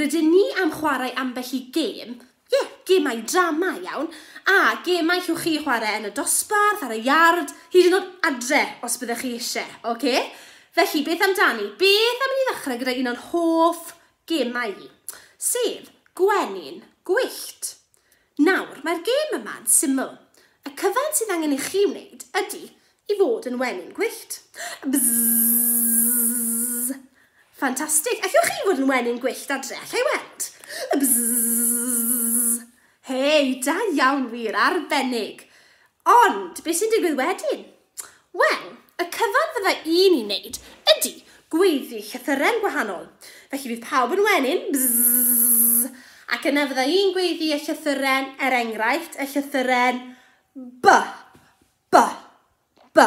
rydyn ni am chwarae ambell i gêm, ie, yeah, gemau drama iawn, a gemau llwch chi chwarae yn y dosbarth, ar y iard, hyd yn oed adre, os byddech chi eisiau, oce? Okay? Felly, beth amdani? Beth am i ni ddechrau gyda un o'n hoff Gemau i. Sef, gwenyn, gwyllt. Nawr, mae'r gêm yma'n syml. Y cyfan sydd angen i chi wneud ydy i fod yn wenyn gwyllt. Bzzzzzzz! Ffantastig! Allwch chi fod yn wenyn gwyllt adre? Alla i weld? Bzzzzzzz! Hei, da iawn wir, arbennig! Ond, beth sy'n digwydd wedyn? Wel, y cyfan fydda i'n ei wneud ydy gweiddi llythyren gwahanol. Felly bydd pawb yn wenyn, bzzz, ac yna fydda i'n gweiddi y llythyren, er enghraifft, y llythyren B, B, B.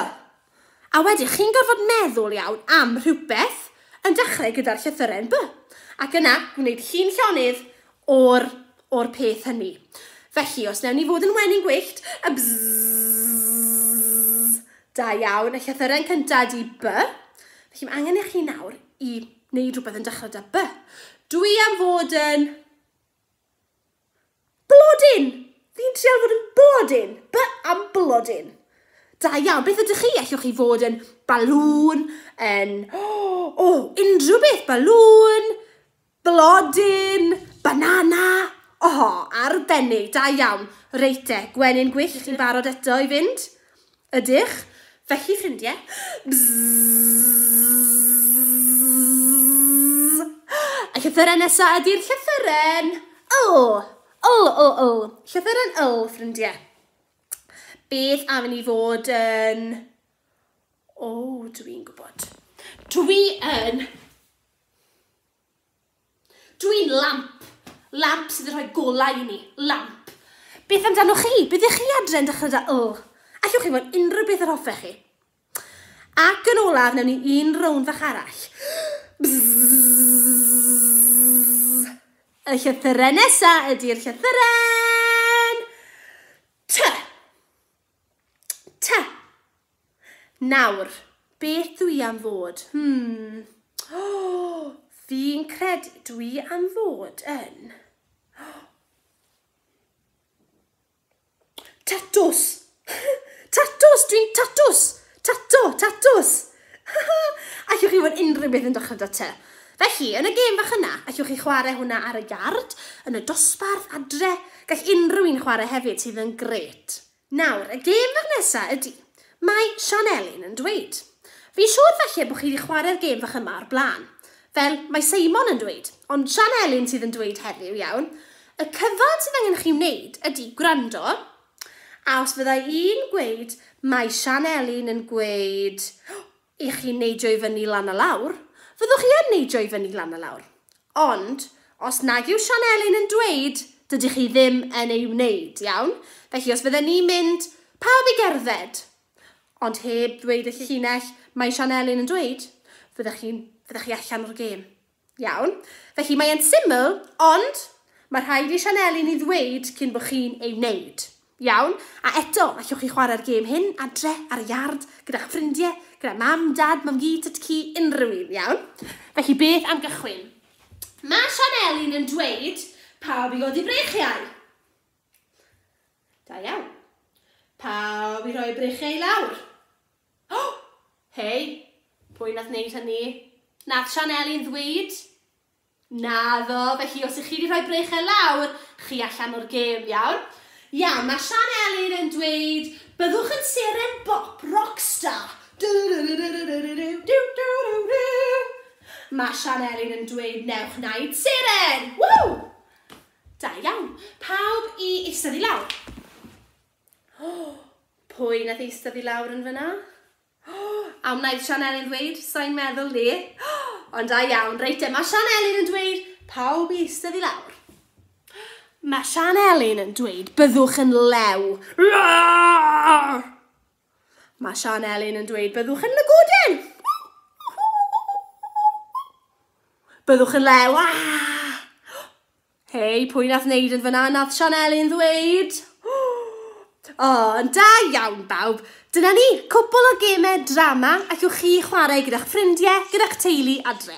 A wedyn chi'n gorfod meddwl iawn am rhywbeth yn dechrau gyda'r llythyren B. Ac yna, gwneud llun llonydd o'r o'r peth hynny. Felly, os newn ni fod yn wenyn gwyllt, a bzzz, da iawn, y llythyren cyntaf ydi by. Felly mae angen i chi nawr i wneud rhywbeth yn dechrau da by. Dw i am fod yn blodyn! Fi'n trial fod yn blodyn! By am blodyn! Da iawn, beth ydych chi? Allwch chi fod yn balŵn, yn... O, oh, unrhyw beth, balŵn, Blodyn! Banana! O! Arbennig! Da iawn! Reit de, gwenyn gwyllt, chi'n barod eto i fynd? Ydych? Felly, ffrindie, bzzzzzzzzz! Y llythyren nesa ydi'r llythyren yl! Yl, yl, yl! Llythyren yl, ffrindie. Beth am i ni fod yn... O, dwi'n gwybod. Dwi yn Dw i'n lamp. Lamp sydd yn rhoi golau i ni. Lamp. Beth amdanoch chi? Be ddech chi adre yn dechrau da yl? Allwch chi fod unrhyw beth yr hoffech chi. Ac yn olaf, newn ni un rownd fach arall. Y llythyren nesa ydy'r llythyren. T. T. Nawr, beth dw i am fod? Hmm. O! Fi'n credu dw i am fod yn... Tatws! Tatws! Dwi'n tatws! Tato! Tatws! Allwch chi fod unrhyw beth yn dechrau 'da te. Felly, yn y gêm fach yna, allwch chi chwarae hwnna ar y iard, yn y dosbarth, adre, gall unrhyw un chwarae hefyd sydd yn gret. Nawr, y gêm fach nesa ydi, mae Sian Elin yn dweud. Fi'n siŵr falle bod chi wedi chwarae'r gêm fach yma o'r blaen. Fel, mae Seimon yn dweud, ond Sian Elin sydd yn dweud heddiw, iawn? Y cyfan sydd angen chi wneud ydi gwrando, a os fydda i'n gweud, mae Sian Elin yn gweud, i chi neidio i fyny lan a lawr, fyddwch chi yn neidio i fyny lan a lawr. Ond, os nag yw Sian Elin yn dweud, dydych chi ddim yn ei wneud, iawn? Felly, os fydden ni'n mynd, pawb i gerdded, ond heb ddweud y llinell mae Sian Elin yn dweud, fyddech chi'n, fyddech chi allan o'r gêm. Iawn, felly mae e'n syml, ond mae rhaid i Sianeli ni ddweud cyn bod chi'n ei wneud. Iawn? A eto, allwch chi chwarae'r gêm hyn adre, ar y iard, gyda'ch ffrindiau, gyda mam, dad, mam-gu, tut-cu, unrhyw un, iawn? Felly beth am gychwyn? Mae Sianeli'n yn dweud pawb i godi breichiau. Da iawn. Pawb i roi breichiau i lawr. Hei! Pwy nath neud hynny? Nath Sianeli'n ddweud? Naddo, felly os ych chi wedi rhoi brechel lawr, chi allan o'r gêm, iawn? Iawn, mae Sianeli'n yn dweud, byddwch yn seren bop rockstar! Mae Sianeli'n yn dweud, newch naid seren! Ww! Da iawn. Pawb i eistedd i lawr. O! Pwy nath eistedd i lawr yn fynna? O! A wnaeth Sianeli'n ddweud, sai'n meddwl 'ny. O! Ond da iawn, reit te, mae Sianeli'n yn dweud, pawb i eistedd i lawr. Mae Sianeli'n yn dweud, byddwch yn lew. Mae Sianeli'n yn dweud, byddwch yn lygoden. Byddwch yn lew. Ah! Hei, pwy nath neud yn fyna? Nath Sianeli'n ddweud. O, yn da iawn bawb. Dyna ni, cwpl o gemau drama ac yw chi chwarae gyda'ch ffrindiau, gyda'ch teulu adre.